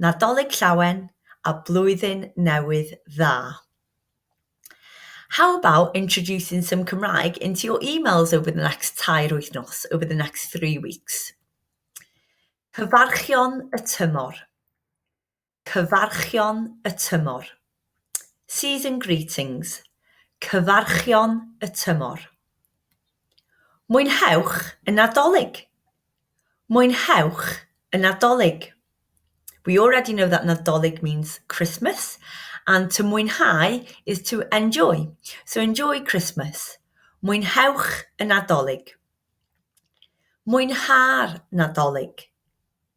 Nadolig Llawen a Blwyddyn Newydd Dda. How about introducing some Cymraeg into your emails over the next tair wythnos, over the next three weeks? Cyfarchion y tymor. Cyfarchion y tymor. Season Greetings, Cyfarchion y Tymor. Mwynhewch y Nadolig! Mwynhewch y Nadolig! We already know that Nadolig means Christmas and to mwynhau is to enjoy, so enjoy Christmas. Mwynhewch y Nadolig! Mwynha'r Nadolig!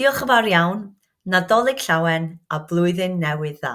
Diolch yn fawr iawn, Nadolig Llawen a Blwyddyn Newydd Dda!